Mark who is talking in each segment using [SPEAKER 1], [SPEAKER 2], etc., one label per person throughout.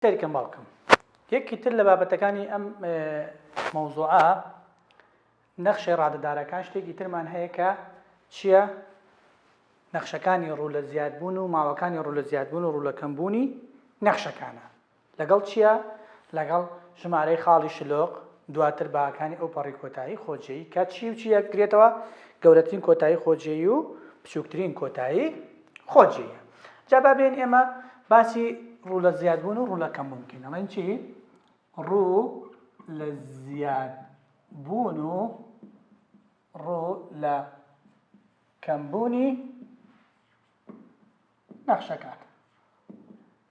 [SPEAKER 1] سەیرکەن باوکم یەکێکی تر لە بابەتەکانی ئەم مەوزوعە نەخشەی ڕادەدارەکان شتێکی ترمان هەیە کە چییە نەخشەکانی ڕوو لە زیادبوون و ماوەکانی ڕوو لە زیادبوون و ڕوو لە کەمبوونی نەخشەکانە لەگەڵ چییە لەگەڵ ژمارەی خاڵی شلۆق دواتر باکانی ئەو پەڕی کۆتایی خۆجێی کە چی و چی یەکگرێتەوە گەورەترین کۆتایی خۆجێی و بچووکترین کۆتایی خۆ جێیە جا با بێن ئێمە باسی ڕوو لە زیادبوون و ڕوو لە کەمبوون بکەین ئەڵێن چی ڕوو لە زیادبوون و ڕوو لە کەمبوونی نەخشەکات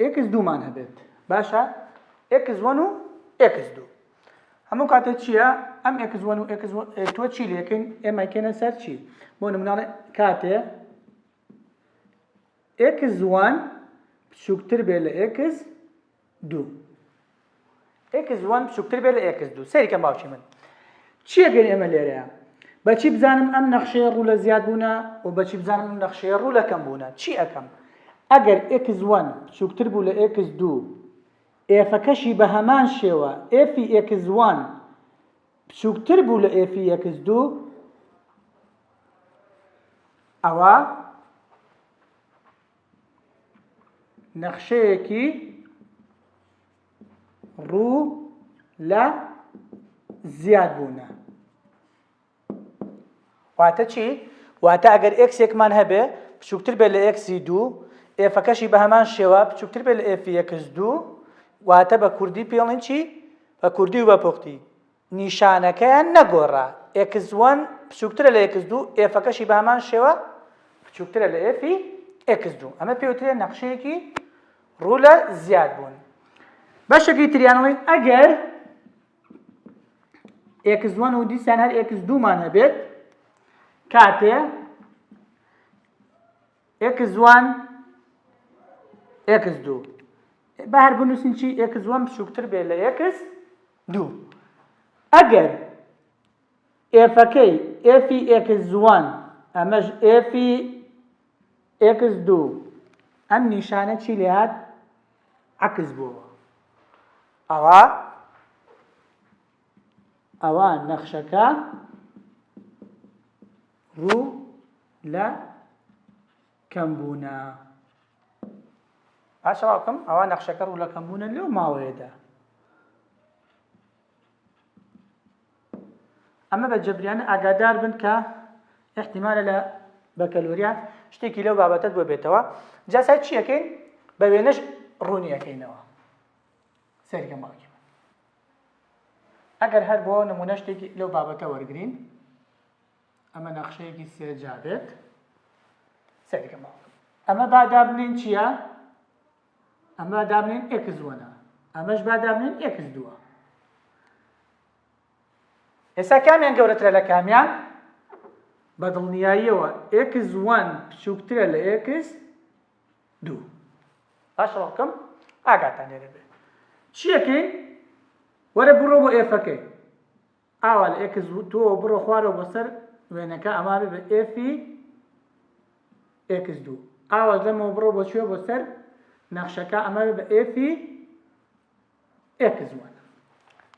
[SPEAKER 1] ئێکس دوو مان هەبێت باشە ئێکس وەن و ئێکس دوو هەموو کاتێک چییە ئەم ئێکس وەن و ئێکس تۆ چی لەکەین ئێمەکەێنە سەر چی بۆ نمناڵێ کاتێ ئێکس وان بچووکتر بێ لە ئێکس دوو ئێکس وەن بچووکتر بێت لە ئێکس دوو سەیرکەم باوکی من چییە گەر ئێمە لێرەیە بەچی بزانم ئەم نەخشەیە ڕوو لە زیاد بوونە و بەچی بزانم ئەم نەخشەیە ڕوو لە کەم بوونە چی ئەەکەم ئەگەر ئێکس وەن بچووکتر بوو لە ئێکس دوو ئێفەکەشی بە هەمان شێوە ئێفی ئێکس وەن بچووکتر بوو لە ئێفی ئێکس دوو ئەوە نەخشەیەکی ڕوو لە زیاد بوونە واتە چی؟ واتە ئەگەر ئێکسێکمان هەبێ بچووکتر بێت لە ئێکسی دوو ئێفەکەشی بە هەمان شێوە بچووکتر بێت لە ئێفی یەکس دوو واتە بە کوردی پێڵین چی بە کوردی و بە پوختی نیشانەکەیان نەگۆڕا، ئێکس وەن بچووکترە لە ئێکس دوو، ئێفەکەشی بە هەمان شێوە بچووکترە لە ئێفی ئێکس دوو، ئەمە پێوترێ نەخشەیەکی ڕوو لە زیاد بوون. بەشەکەی تریانەوەی ئەگەر ئێکس وەن و دیسان هەر ئێکس دوومان هەبێت کاتێ ئێکس وان ئێکس دوو بە هەر بنووسین چی ئێکس وەن بچووکتر بێت لە ئێکس دوو. ئەگەر ئێفەکەی ئێفی ئێکس وەن ئەمەش ئێفی ئێکس دوو ئەم نیشانە چی لێهات عەکس بووەوە ئەوا ئەوا نەخشەکە ڕوو لە کەم بوونە با چاوا بکەم ئەوا نەخشەکە ڕوو لە کەم بوونە لەو ماوەیەدا ئەمە بە جەبریانە ئاگادار بن کە احتیمالە لە بەکەلوریات شتێکی لەو بابەتت بۆ بێتەوە جاسای چیەکەین بە وێنەش ڕوونیەکەینەوە سەرکە ماڵکی ئەگەر هەر بۆ نمونە شتێکی لەو بابەتە وەرگین ئەمە نەخشەیەکی سێجا بێت سەرکەمەوە ئەمە با دابنین چییە؟ ئەمە دابنین ئێکس وەنە ئەمەش با دابنین ئێکس دووە ئێستا کامیان گەورەترە لە کامیان بە دڵنیاییەوە ئێکس وان بچووکترە لە ئێکس دوو باش ڕۆکم ئاگاتان لێ دەبێت چیەکەی وەرە بڕۆ بۆ ئێفەکەی ئاوا لە ئێکس دووەوە بڕۆ خوارەوە بۆ سەر وێنەکە ئەمە بێ بە ئێفی ئێکس دوو ئاواش لەمەوە بڕۆ بۆ چێ بۆ سەر نەخشەکە ئەمە بێ بە ئێفی ئێکس وان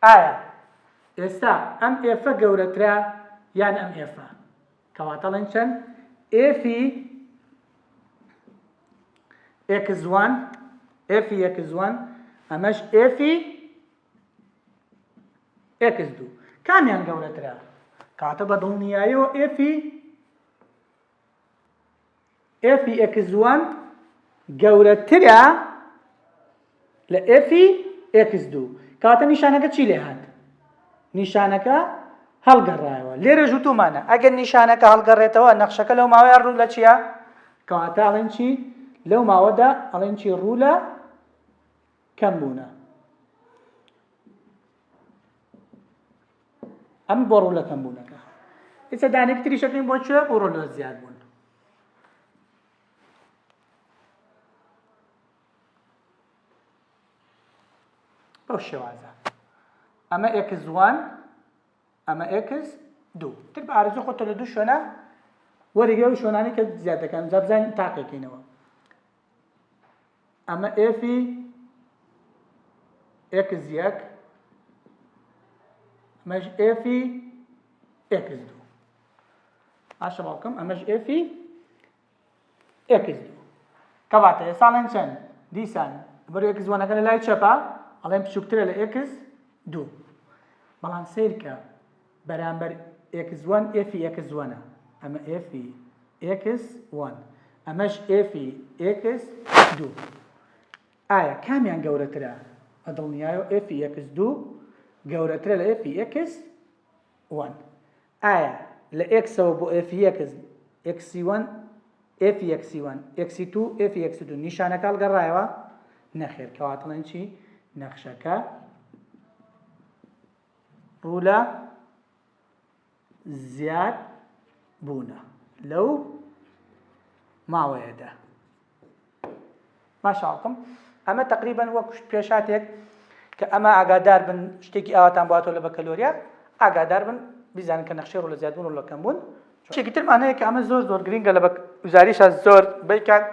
[SPEAKER 1] ئایا ئێستا ئەم ئێفە گەورەترە یان ئەم ئێفە کەواتەڵێن چەند ئێفی ئێکزوان ئێفی یەکزوان ئەمەش ئێفی ئێکس دوو کامیان گەورەترە کاتە بە دڵنیایەوە ئێفی ئێفی ئێکس دووان گەورەترە لە ئێفی ئێکس دوو کاتە نیشانەکە چی لێ هات نیشانەکە هەڵگەڕایەوە لێرە ژوتومانە ئەگەر نیشانەکە هەڵگەڕێتەوە نەخشەکە لەو ماوەیە ڕوو لە چییە کەواتە ئەڵێن چی لەو ماوەدا ئەڵێن چی ڕوو لە کەم بوونە ئەم بۆ ڕوو لە کەم بوونەکە ئێستا دانێک تریشەکەین بۆ چێ بۆ ڕۆلۆ زیاد بوون بەو شێوازە ئەمە ئێکس وان ئەمە ئێکس دوو تر بە ئارزو خۆتە لە دوو شوێنە وەرگێ و شوێنانی کە زیادەکەم جابزانین تاقیکەینەوە ئەمە ئێفی ئێکس یەک ئەمەش ئێفی ئێکس دوو باشە باوکم ئەمەش ئێفی ئێکس دوو کەواتە ئێستا لەن چەند دیسان بەرو ئێکس وەنەکە لە لای چەپە ئەڵێن بچووکترە لە ئێکس دوو بەڵام سیرکە بەرامبەر ئێکس وەن ئێفی ئێکس وەنە، ئەمە ئێفی ئێکس وەن، ئەمەش ئێفی ئێکس دوو. ئایا کامیان گەورەترە؟ بە دڵنیایەوە ئێفی ئێکس دوو گەورەترە لە ئێفی ئێکس وەن. ئایا لە ئێکسەوە بۆ ئێفی ئێکس، ئێکسی وەن ئێفی ئێکسی وەن، ئێکسی توو ئێفی ئێکس دوو نیشانەکە هەڵگەڕایەوە؟ نەخێر، کەواتە بڵێن چی؟ نەخشەکە ڕوولە زیاد بوونە لەو ماوەیەدا ماشاڵکم ئەمە تقریبان وەک پێشاتێک کە ئەمە ئاگادار بن شتێکی ئاواتان باتۆ لە بەکەلۆریا ئاگادار بن بیزانن کە نەخشی ڕۆ لە زیادبوون و لەکەم بوون شتێکی ترمانەیە کە ئەمە زۆر زۆر گرنگە لە وزاریشە زۆر بیکات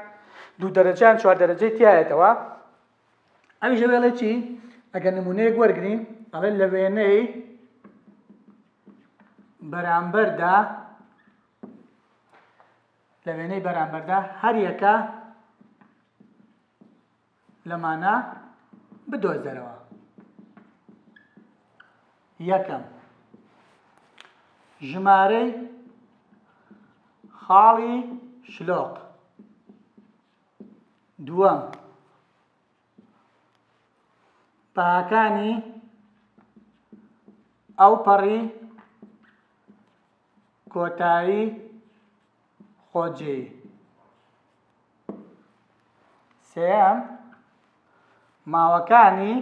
[SPEAKER 1] دوو دەرەجان چوار دەرەجەی تایەتەوە ئەویش دەڵێ چی ئەگەر نمونەیەک وەرگین ئەڵێ لە وێنەی بەرامبەردا لە وێنەی بەرامبەردا هەریەکە لەمانە بدۆزەرەوە یەکەم ژمارەی خاڵی شلۆق دووەم، بەهاکانی ئەوپەڕی کۆتایی خۆجێی سێەم ماوەکانی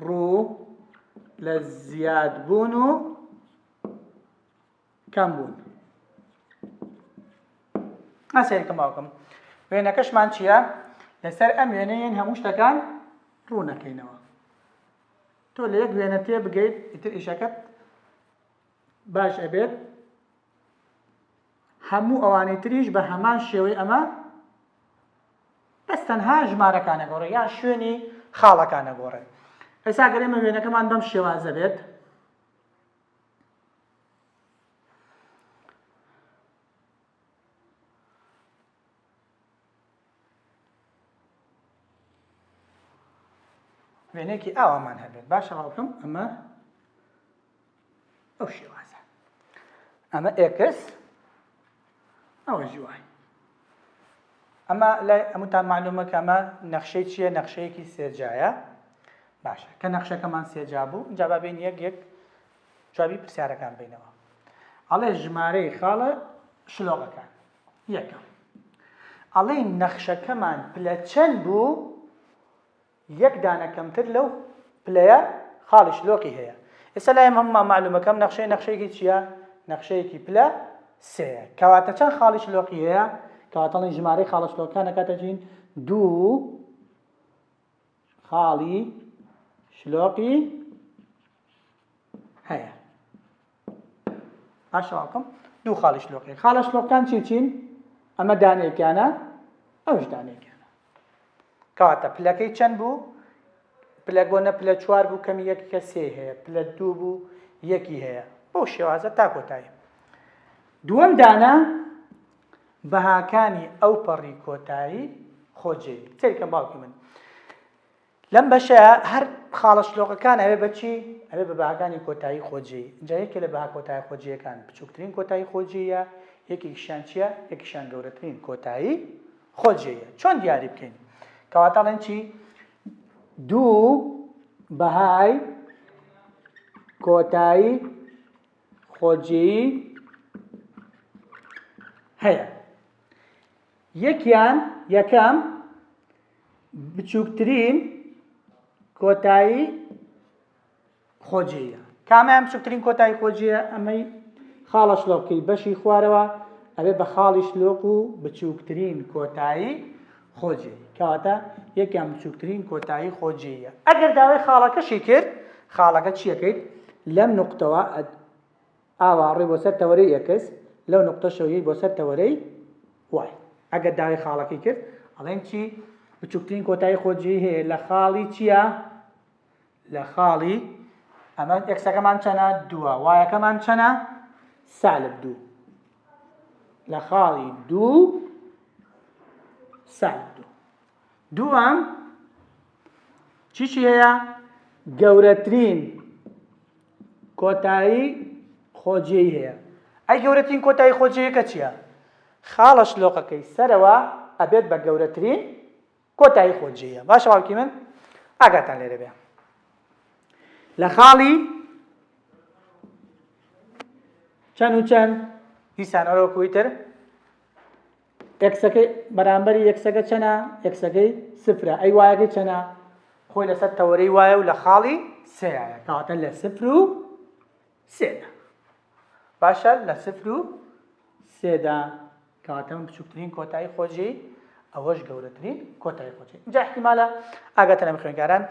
[SPEAKER 1] ڕوو لە زیادبوون و کام بوون ئاسەیەکە ماوکەم وێنەکەشمان چییە لەسەر ئەم وێنەیەن هەموو شتەکان ڕوونەکەینەوە تۆ لە یەک وێنە تێ بگەیت ئیتر ئیشەکەت باش ئەبێت هەموو ئەوانەی تریش بە هەمان شێوەی ئەمە بەس تەنها ژمارەکانە گۆڕێ یان شوێنی خاڵەکانە گۆڕێت ئێسا گەرێمە وێنەکەمان بەم شێوازە بێت وێنەیەکی ئاوامان هەبێت باشە ڕاوکەم ئەمە ئەو شێوازە ئەمە ئێکس ئەوە جوان ئەمە لای ئەموتان معلومە کە ئەمە نەخشەی چییە نەخشەیەکی سێجایە باشە کە نەخشەکەمان سێجا بوو جا با بین یەک یەک جوابی پرسیارەکان بینەوە ئەڵێ ژمارەی خاڵە شلۆقەکان یەکەم ئەڵێ نەخشەکەمان پلە چەند بوو یەک دانە کەمتر لەو پلەیە خاڵی شلۆقی هەیە ئێستا لایم هەموومان مەعلومەکەم نەخشەی نەخشەیەکی چییە نەخشەیەکی پلە سێیە کەواتە چەند خاڵی شلۆقی هەیە کەواتەڵین ژمارەی خاڵە شلۆکانە کاتەجین دوو خاڵی شلۆقی هەیە ئاشاکم دوو خاڵی شلۆقی خاڵە شلۆقان چی چین ئەمە دانێکیانە ئەوش دانێکیانە کاتە پلەکەی چەند بوو پلە گۆنە پلە چوار بوو کەمی یەک کە سێ هەیە پلە دوو بوو یەکی هەیە بۆ شێوازە تا کۆتایی دووەم دانە بەهاکانی ئەو پەڕی کۆتایی خۆجێی تێکە باوکی من لەم بەشەیا هەر خاڵە شلۆقەکان ئەبێ بە چی؟ ئەبێ بە بەهاکانی کۆتایی خۆجێی. ئینجا یەکێ لە بەها کۆتایە خۆجێیەکان بچووکترین کۆتایی خۆجێیە، یەکێکیشیان چییە؟ یەکیشیان گەورەترین کۆتایی خۆجێیە. چۆن دیاری بکەین؟ کەواتە ئەڵێن چی؟ دوو بەهای کۆتایی خۆجێی هەیە. یەکیان یەکەم بچووکترین کۆتایی خۆجێیە کامیان بچووکترین کۆتایی خۆجێە ئەمەی خاڵە شلۆقی بەشی خوارەوە ئەوێ بە خاڵی شلۆق و بچووکترین کۆتایی خۆجێ کەواتە یەکیان بچووکترین کۆتایی خۆجێیە ئەگەر داوای خاڵەکەشی کرد خاڵەکە چیەکەیت لەم نقطەوە ئاوا ڕێ بۆ سەر تەوەرەی ئێکس لەو نوقتەشەو یەی بۆ سەر تەوەرەی وای. ئەگەر داوێ خاڵەکەی کرد ئەڵێن چی؟ بچوکترین کۆتایی خۆ جێی هەیە لە خاڵی چیە؟ لە خاڵی ئەمە ئێکسەکەمان چەنە دووە وایەکەمان چەنە سالب دوو لە خاڵی دوو سالب دوو دووەم چیچی هەیە گەورەترین کۆتایی خۆجێی هەیە. ئەی گەورەترین کۆتایی خۆجێیەکە چیە؟ خاڵە شلۆقەکەی سەرەوە ئەبێت بە گەورەترین کۆتایی خۆجێیە باشە باوکی من ئاگاتان لێرە بێ لە خاڵی چەند و چەند دیسانەوەکوی تر ئێکسەکەی بەرامبەری یەکسەگە چەنە؟ ئێکسەکەی سفرە. ئەی وایەکەی چەنە؟ خۆی لەسەر تەوەرەی وایە و لە خاڵی سێایە. کەواتە لە سفر و سێدا. باشە لە سفر و سێدا کەواتە من بچووکترین کۆتایی خۆجێی ئەوەش گەورەترین کۆتای خۆچی جا احتیمالە ئاگاتە لەم خوێنگاران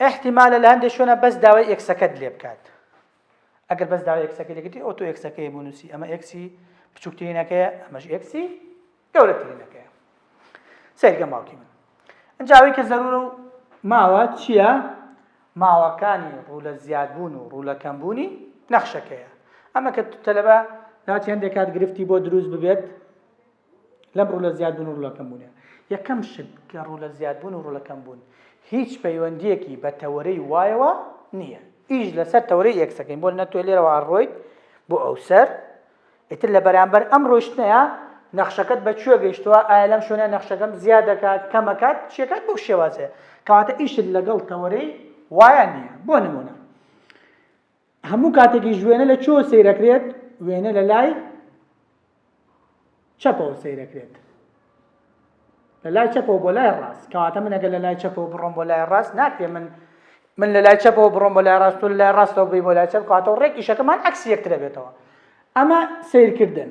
[SPEAKER 1] احتیمالە لە هەندێک شوێنە بەس داوای ئێکسەکەت لێ بکات ئەگەر بەس داوای ئێکسەکەی لێ کردی ئەوە تۆ ئێکسەکەی بۆ نووسی ئەمە ئێکسی بچووکترینەکەیە ئەمەش ئێکسی گەورەترینەکەیە سەیرکە ماڵکی من ئەجاوی کە زەرور و ماوە چییە ماوەکانی ڕوو لە زیادبوون و ڕوو لە کەمبوونی نەخشەکەیە ئەمە کە تەلەبە ناوچ هەندێک کات گرفتی بۆ دروست ببێت لەم ڕوو لە زیادبوون و ڕوو لە کەمبوونە. یەکەم شت کە ڕوو لە زیادبوون و ڕوو لە کەمبوون هیچ پەیوەندییەکی بە تەوەرەی وایەوە نییە، ئیش لەسەر تەوەرەی ئێکس دەکەین، بۆ نمونە تۆ لێرەوە ئەڕۆیت بۆ ئەوسەر، ئیتر لە بەرامبەر ئەم ڕۆیشتنەیا نەخشەکەت بە کوێ گەیشتووە، ئایا لەم شوێنە نەخشەکەم زیاد دەکات، کەم ئەکات، چی ئەکات، بەو شێوازەیە، کەواتە ئیشت لەگەڵ تەوەرەی وایە نییە، بۆ نمونە. هەموو کاتێکیش وێنە لە چۆ سەیرەکرێت وێنە لە لای چەپەوە سەیرەکرێت لە لای چەپەوە بۆ لای ڕاست کەواتە من ئەگەر لە لای چەپەوە بڕۆم بۆ لای ڕاست ناکرێ من من لە لای چەپەوە بڕۆم بۆ لای ڕاست و لە لای ڕاستەوە بی بۆ لای چەپ کاتەوە ڕێک ئیشەکەمان عکس یەکترە بێتەوە ئەمە سیرکردن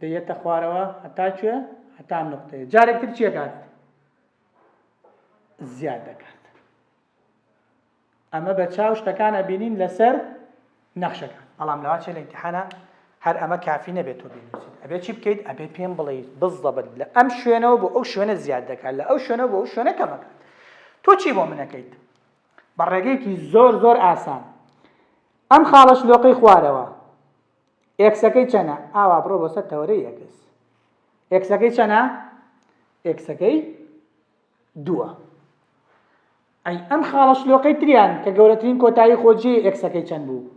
[SPEAKER 1] دەیەتە خوارەوە هەتا کوێ هەتا نقطەیە جارێک تر چیەکات زیاد دەکات ئەمە بە چاو شتەکان ئەبینین لەسەر نەخشەکان بەڵام لەوا چێ لە امتحانە هەر ئەمە کافی نەبێت تۆ بینوسیت ئەبێت چی بکەیت ئەبێ پێم بڵیت بزڵبت لە ئەم شوێنەوە بۆ ئەو شوێنە زیاد دەکات لە ئەو شوێنە بۆ ئەو شوێنە کەمەکە تۆ چی بۆ منەکەیت بە ڕێگەیەکی زۆر زۆر ئاسان ئەم خاڵەش لۆقەی خوارەوە ئێکسەکەی چەنە؟ ئاوا بڕۆ بۆ سەر تەوەرەی ئێکس. ئێکسەکەی چەنە؟ ئێکسەکەی دووە. ئەی ئەم خاڵە شلۆقەی تریان کە گەورەترین کۆتایی خۆجێی ئێکسەکەی چەند بوو؟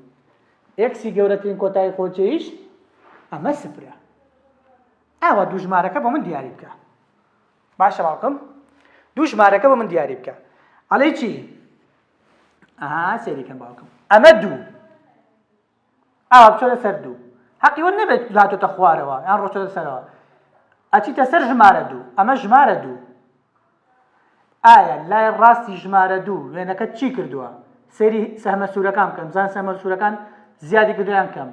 [SPEAKER 1] ئێکسی گەورەترین کۆتایی خۆجێیش ئەمە سفرە. ئاوا دوو ژمارەکە بۆ من دیاری بکە. باشە باوکم دوو ژمارەکە بۆ من دیاری بکە. ئەڵێ چی؟ ئەها سێریکەم باوکم. ئەمە دوو. ئاوا بچۆتە سەر دوو هەقی وە نەبێت هاتۆتە خوارەوە یان ڕۆچۆتە سەرەوە ئەچیتە سەر ژمارە دوو ئەمە ژمارە دوو ئایا لای ڕاستی ژمارە دوو وێنەکەت چی کردووە سەری سەهمە سوورەکان بکەن بزان سەمە سوورەکان زیادی کردویان کەم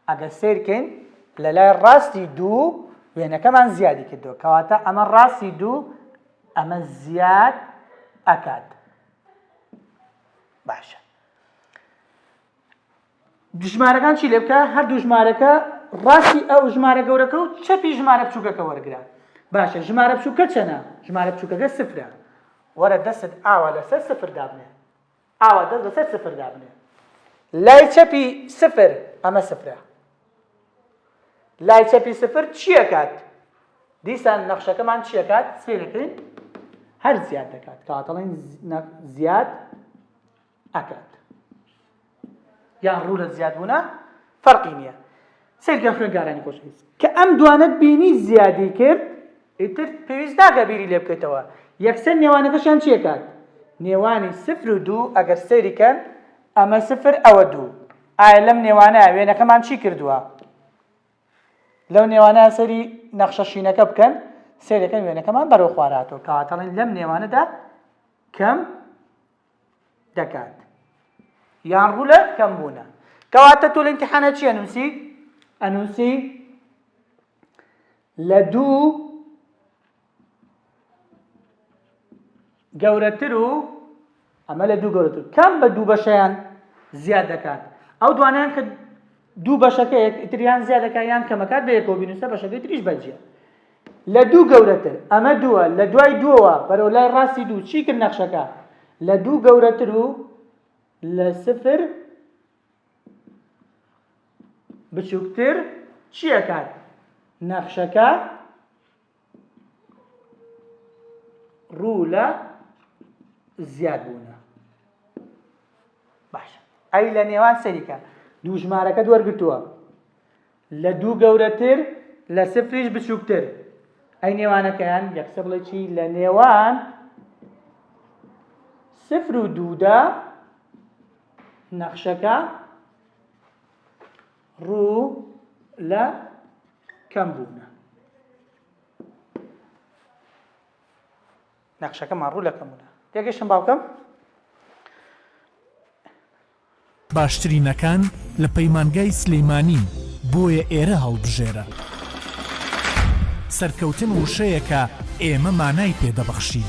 [SPEAKER 1] ئەگەر سیرکەین لە لای ڕاستی دوو وێنەکەمان زیادی کردووە کەواتە ئەمە ڕاستی دوو ئەمە زیاد ئەکات باشە ژمارەکان چی لێ بکە هەردوو ژمارەکە ڕاستی ئەو ژمارە گەورەکە و چەپی ژمارە بچووکەکە وەرگرە باشە ژمارە بچووکە چەنە ژمارە بچووکەکە سفرە وەرە دەست ئاوا لەسەر سفر دابنێ ئاوا دەست لەسەر سفر دابنێ لای چەپی سفر ئەمە سفرە لای چەپی سفر چیەکات دیسان نەخشەکەمان چیەکات سێ دەکەین هەر زیاد دەکات کاتەڵین زیاد ئەکات یان ڕوو لە زیادبوونە فەرقی نییە سەیرکە خوێنگارانی خۆشویست کە ئەم دوانە بینی زیادی کرد ئیتر پێویست ناکە بیری لێ بکەیتەوە یەکسەر نێوانەکەشیان چیەکات نێوانی سفر و دوو ئەگەر سەیریکەن ئەمە سفر ئەوە دوو ئایا لەم نێوانە وێنەکەمان چی کردووە لەو نێوانە سەری نەخشە شینەکە بکەن سێرەکەن وێنەکەمان بەرەو خواراتەوە کاتەڵین لەم نێوانەدا کەم دەکات یان ڕوو لە کەمبوونە کەواتە تۆ لە ئیمتحانە چی ئەنووسی ئەنووسی لە دوو گەورەتر و ئەمە لە دوو گەورەتر کەم بە دوو بەشیان زیاد دەکات ئەو دوانیان کە دوو بەشەکە یەکتریان زیادەکە یان کەمەکات بە یەکۆ بینوسە بەشەکەی تریش بەجیە لە دوو گەورەتر، ئەمە دووە، لە دوای دووەوە بەرەو لای ڕاستی دوو، چی کرد نەخشەکە؟ لە دوو گەورەتر و لە سفر بچووکتر چی ئەکات؟ نەخشەکە ڕوو لە زیاد بوونە باشە ئەی لە نێوان سەریکە دوو ژمارەکە دوەرگتووە لە دوو گەورەتر لە سفریش بچووکتر ئەی نێوانەکەیان یە قسە بڵێ چی لە نێوان سفر و دوودا نەخشەکە ڕوو لە کەم بوونە نەخشەکەمان ڕوو لە کەمونە تێگەشتم باوکەم
[SPEAKER 2] باشترینەکان لە پەیمانگای سلیمانین بۆیە ئێرە هەڵبژێرە. سەرکەوتن وشەیەکە ئێمە مانای پێ دەبەخشین.